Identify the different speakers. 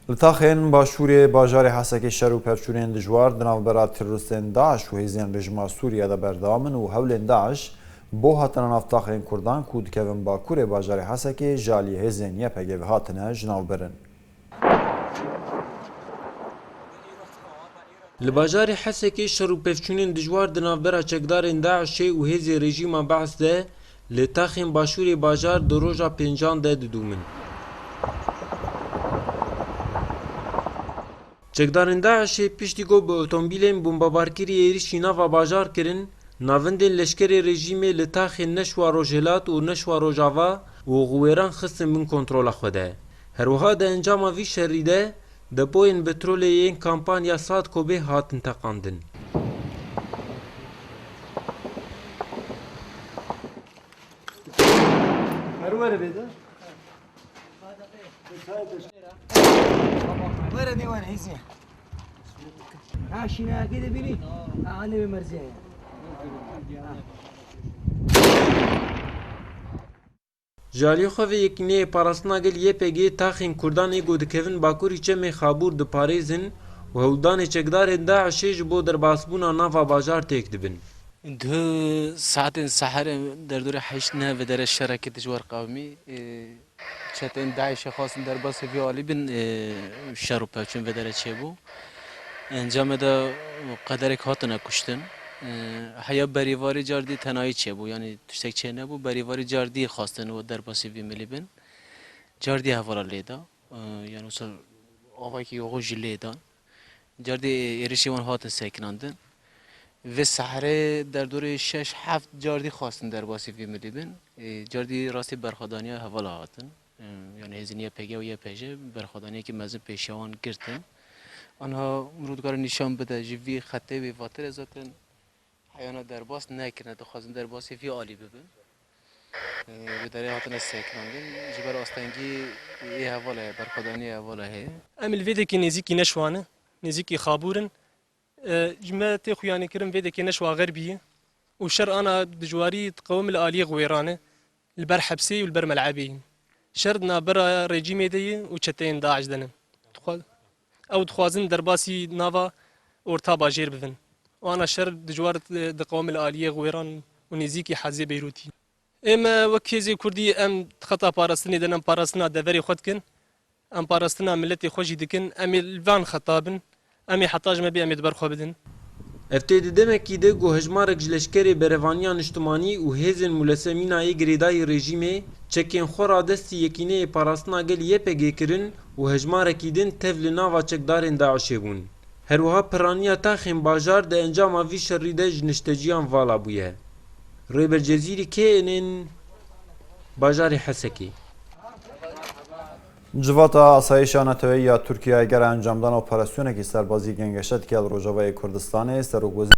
Speaker 1: Li taxên başûrê bajarê Hesekê şer û pevçûnên dijwar di navbera teroristên DAIŞ û hêzên rejîma Sûriyê de berdewam in û hewlên DAIŞ bo hatina nav taxên Kurdan ku dikevin bakurê bajarê Hesekê ji aliyê hêzên YPG ve hatine ji nav birin. Li bajarê Hesekê şer û pevçûnên dijwar di navbera çekdarên DAIŞê û hêzê rejîma BAIŞ de Li texên başûrê bajar di roja pêncan de didûmin. Çekdarên DAIŞ'ê piştî ku bi otomobîlên bombebarkirî êrîşî nava bajar kirin, navendên leşkerê rejîmê li taxên Neşwa Rojhilat û Neşwa Rojava û Xiwêran xistin bin kontrola xwe de. Herwiha di encama vî şerî de Depoyên betrolê yên kampanya Sadkobê hatin teqandin. Ji aliyê xwe vê yekîneyê Parastina Gel YPG'ê taxên Kurdan ê ku dikevin bakurî Çemê Xabûr diparêzin û hewldanê çekdarên DAIŞ'ê ji bo derbasbûna nava bajar têk dibin. Di saetên seherê derdorê heşt ne vedere şerekî dijwar qewimî çeteyên DAIŞ'ê xwestin derbasê vê alî bin û şer û pevçûn vedere çêbû. Encamê de qederek hatine kuştin. Heya berîvarî cardî tenayî çêbû yanî tiştek çênebû. Berîvarî cardî xwestin û derbasî vî milî bin. Cardî hevala lêda. Yan wisa avayekî yoxûn jî lêdan. Cardî êrişî wan hatin sekinandin. Vê seherê derdorê şeş heft cardî xwestin derbasî vî milî bin. Cardî rastî berxwedaniya hevala hatin. Yan hêzên YPG û YPJ berxwedaniyekî mezin pêşiya wan girtin. Anha mirov dikare nîşan bide ji vî xetê wê vatire zaten heyana derbas nekirine dixwazin derbasê vî alî bibin. Wê derê hatine sekinandin ji ber astengî yê hevala ye berxwedaniyê hevala heye. Em li vê dekê nêzîkî neşwane, nêzîkî xabûr in. Ji me tê xuyanîkirin vê dekê neş waxer bî û şer ana dijwarî di qewimê li aliyê xiwêran e, li ber hepsê û li ber melebê yî. Şer di navbera rejîmê de yî û çeteyên DAIŞ de ne. Ew dixwazin derbasî nava orta bajêr bibin. Ana şer dijwar di qewimê li aliyê xiwêran û nêzîkî hezê Beyrûtî. Ê me wek hêzê Kurdî em di xeta parastinê de ne, em parastina deverê xwe dikin, em parastina miletê xwe jî dikin, em ê li van xeta bin, em ê heta ji me bê em ê di ber xwe bidin. Ev tê di demekî de ku hejmarek ji leşkerê Berevaniya Niştimanî û hêzên Mulese Mînayê girêdayî rejîmê çekên xwe radestî Yekîneyê Parastina Gelî YPG'ê kirin û hejmarekî din tev li nava çekdarên DAIŞ'ê bûn. Herwiha pirraniya taxên bajar di encama vî şerî de ji nişteciyan vala bûye. Rêber Cezîrî kê yên ên bajarê Hesekê? Civata Asayîşa Netoyê ya Tirkiyeyê gera encamdana operasyonekî serbazî gengeşe dike li Rojavayê Kurdistanê. Serokwezîrê.